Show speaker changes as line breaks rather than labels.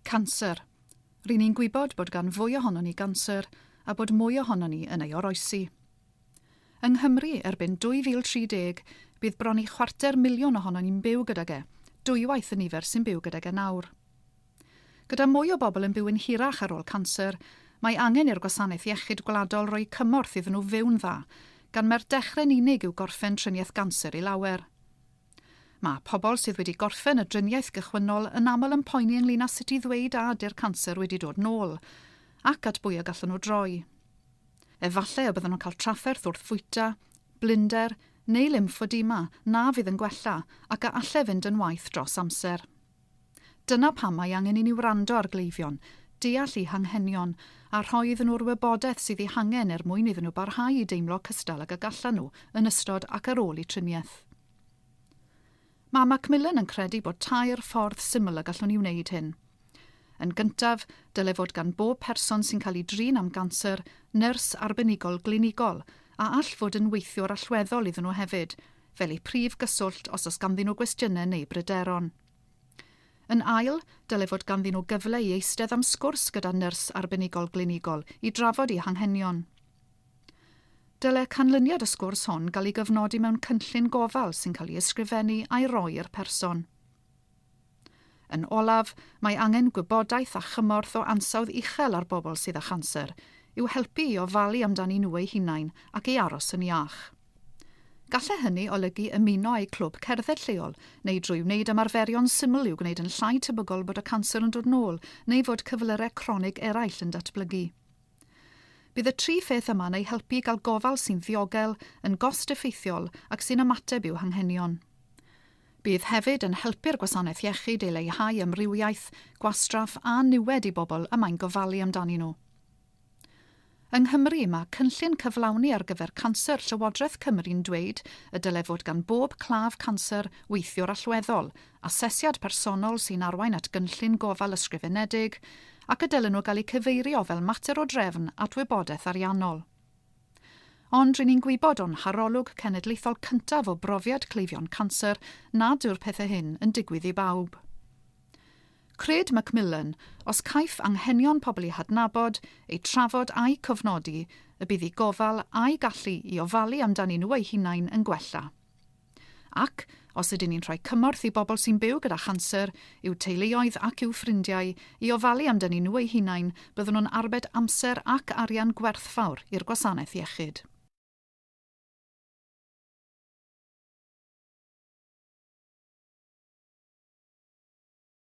Canser. Ry'n ni'n gwybod bod gan fwy ohonon ni ganser a bod mwy ohonon ni yn ei oroesi. Yng Nghymru, erbyn 2030, bydd bron i chwarter miliwn ohonon ni'n byw gydag e, dwywaith y nifer sy'n byw gydag e nawr. Gyda mwy o bobl yn byw'n hirach ar ôl canser, mae angen i'r Gwasanaeth Iechyd Gwladol roi cymorth iddyn nhw fyw'n dda, gan mai'r dechre'n unig yw gorffen triniaeth ganser i lawer. Mae pobl sydd wedi gorffen y driniaeth gychwynnol yn aml yn poeni ynglŷn â sut i ddweud a ydy'r canser wedi dod nôl, ac at bwy y gallwn nhw droi. Efallai y byddan nhw'n cael trafferth wrth fwyta, blinder, neu lymffodema na fydd yn gwella ac a allai fynd yn waeth dros amser. Dyna pam mae angen i ni wrando ar gleifion, deall eu hanghenion, a rhoi iddyn nhw'r wybodaeth sydd eu hangen er mwyn iddyn nhw barhau i deimlo cystal ag y gallan nhw yn ystod ac ar ôl eu triniaeth. Mae Macmillan yn credu bod tair ffordd syml y gallwn ni wneud hyn. Yn gyntaf, dyle fod gan bob person sy'n cael ei drin am ganser nyrs arbenigol glinigol, a all fod yn weithiwr allweddol iddyn nhw hefyd, fel eu prif gyswllt os oes ganddyn nhw gwestiynau neu bryderon. Yn ail, dylai fod ganddyn nhw gyfle i eistedd am sgwrs gyda nyrs arbenigol glinigol i drafod eu hanghenion. Dylai canlyniad y sgwrs hwn gael ei gyfnodi mewn cynllun gofal sy'n cael ei ysgrifennu a'i roi i'r person. Yn olaf, mae angen gwybodaeth a chymorth o ansawdd uchel ar bobl sydd â chanser, i'w helpu i ofalu amdanyn nhw eu hunain ac i aros yn iach. Gallai hynny olygu ymuno â'u clwb cerdded lleol, neu drwy wneud ymarferion syml i'w gwneud yn llai tebygol bod y canser yn dod nôl neu fod cyflyrau cronig eraill yn datblygu. Bydd y tri pheth yma'n eu helpu i gael gofal sy'n ddiogel, yn gost-effeithiol ac sy'n ymateb i'w hanghenion. Bydd hefyd yn helpu'r gwasanaeth iechyd i leihau amrywiaeth, gwastraff a niwed i bobl y mae'n gofalu amdanyn nhw. Yng Nghymru, mae cynllun cyflawni ar gyfer canser Llywodraeth Cymru'n dweud y dylai fod gan bob claf canser weithiwr allweddol, asesiad personol sy'n arwain at gynllun gofal ysgrifenedig, ac y dylen nhw gael eu cyfeirio fel mater o drefn at wybodaeth ariannol. Ond ry'n ni'n gwybod o'n harolwg cenedlaethol cyntaf o brofiad cleifion canser nad yw'r pethau hyn yn digwydd i bawb. Cred Macmillan, os caiff anghenion pobl eu hadnabod, eu trafod a'u cofnodi, y bydd eu gofal a'u gallu i ofalu amdanyn nhw eu hunain yn gwella. Ac, os ydyn ni'n rhoi cymorth i bobl sy'n byw gyda chanser, i'w teuluoedd ac i'w ffrindiau, i ofalu amdynyn nhw eu hunain, byddwn yn arbed amser ac arian gwerthfawr i'r gwasanaeth iechyd.